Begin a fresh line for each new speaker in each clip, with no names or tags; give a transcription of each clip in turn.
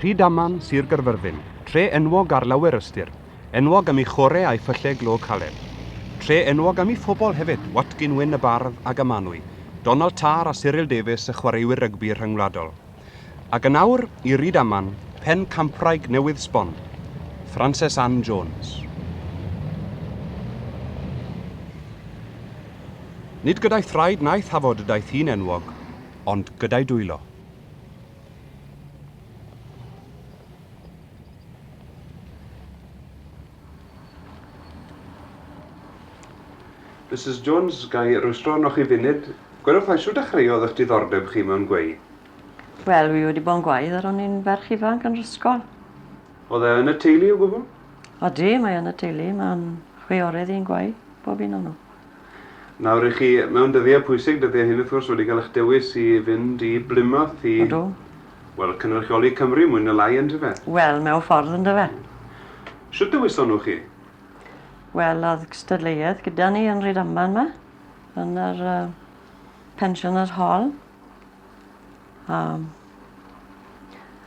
Rhydaman, Sir Gaerfyrddin, tre enwog ar lawer ystyr, enwog am ei chore a'i phylle glo caled. Tre enwog am ei phobl hefyd, Watkin Wyn y bardd ag a manwy, Donald Tarr a Cyril Davies y chwaraewyr rygbi rhyngwladol. Ac yn awr, i Rydaman, pen campraig newydd sbon, Frances Ann Jones. Nid gyda'i thraed na'i thafod y daeth hi'n enwog, ond gyda'i dwylo. Misus Jones, ga i rwystro arnoch chi funud? Gwedwch dda, shwt dechreuodd eich diddordeb chi mewn gweu? Wel, fi wedi bod yn gweu ar o'n i'n ferch ifanc yn yr ysgol. Oedd e yn y teulu o gwbl? Odi, mae yn y teulu. Mae'n chwiorydd i'n gweu, bob un o nhw. Nawr i chi mewn dyddiau pwysig, dyddiau hyn wrth gwrs wedi cael eich dewis i fynd i Blymoth i... Ydw. ...wel, cynrychioli Cymru mwy na lai yndyfe? Wel, mewn ffordd yndyfe. Shwt dewiso nhw chi? Wel, oedd cystadleuaeth gyda ni yn Rydaman 'ma, yn yr yy Pensioners Hall. A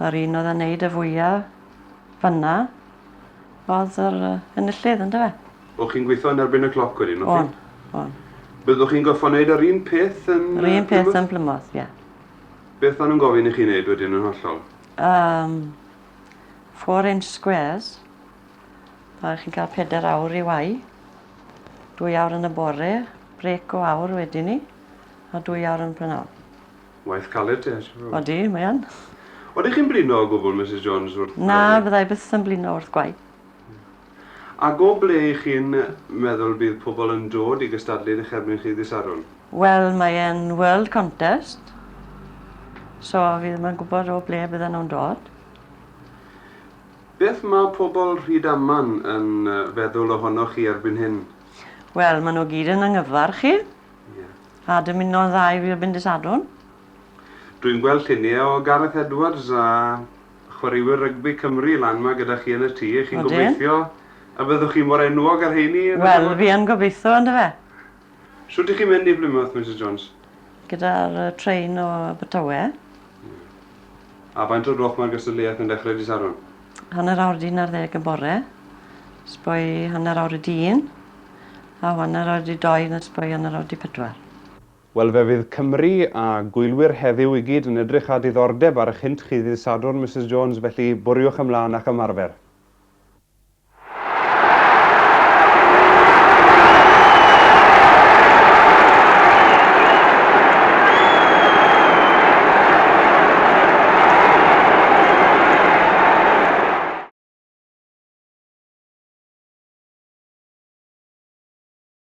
yr un oedd yn neud y fwya fynna oedd yr yy enillydd yndyfe? O'ch chi'n gweithio yn erbyn y cloc wedyn, o'ch chi'n? O'n, o'n. Byddwch chi'n gorfod gwneud yr un peth yn Yr un peth yn Plymouth, ie. Beth o'n nhw'n gofyn i chi wneud wedyn yn hollol? Um, four inch squares. Mae chi'n cael peder awr i wai. Dwy awr yn y bore, brec o awr wedyn ni, a dwy awr yn prynawn. Waith caled te, siwr o Odi, mae yn. Oeddech chi'n blino o gwbl, Mrs Jones, wrth... Na, byddai byth yn blino wrth gwaith. Ac o ble y'ch chi'n meddwl bydd pobl yn dod i gystadlu yn eich erbyn chi ddydd Sadwrn? Wel, mae e'n world contest, so fi ddim yn gwybod o ble bydden nhw'n dod. Beth mae pobl Rhydaman yn feddwl ohonoch chi erbyn hyn? Wel, maen nhw gyd yn anghyfarch i, a dymuno'n dda i fi erbyn dydd Sadwrn. Dwi'n gweld lluniau o Gareth Edwards a Chwaraewyr rygbi Cymru lan 'ma gyda chi yn y tŷ, chi'n gobeithio y byddwch chi mor enwog â'r rheini? Wel, fi yn gobeithio, yndyfe. Shwt dych chi'n mynd i Blymoth, Misus Jones? Gyda'r trên o Abertawe. A faint o'r gloch mae'r gystadleuaeth yn dechrau dydd Sadwrn? Hanner awr 'di un ar ddeg y bore, sboi hanner awr 'di un, a hanner awr 'di dou, sboi hanner awr 'di pedwar. Wel fe fydd Cymru a gwylwyr heddiw i gyd yn edrych â diddordeb ar 'ych hynt chi ddydd Sadwrn Misus Jones felly bwriwch ymlân a'ch ymarfer.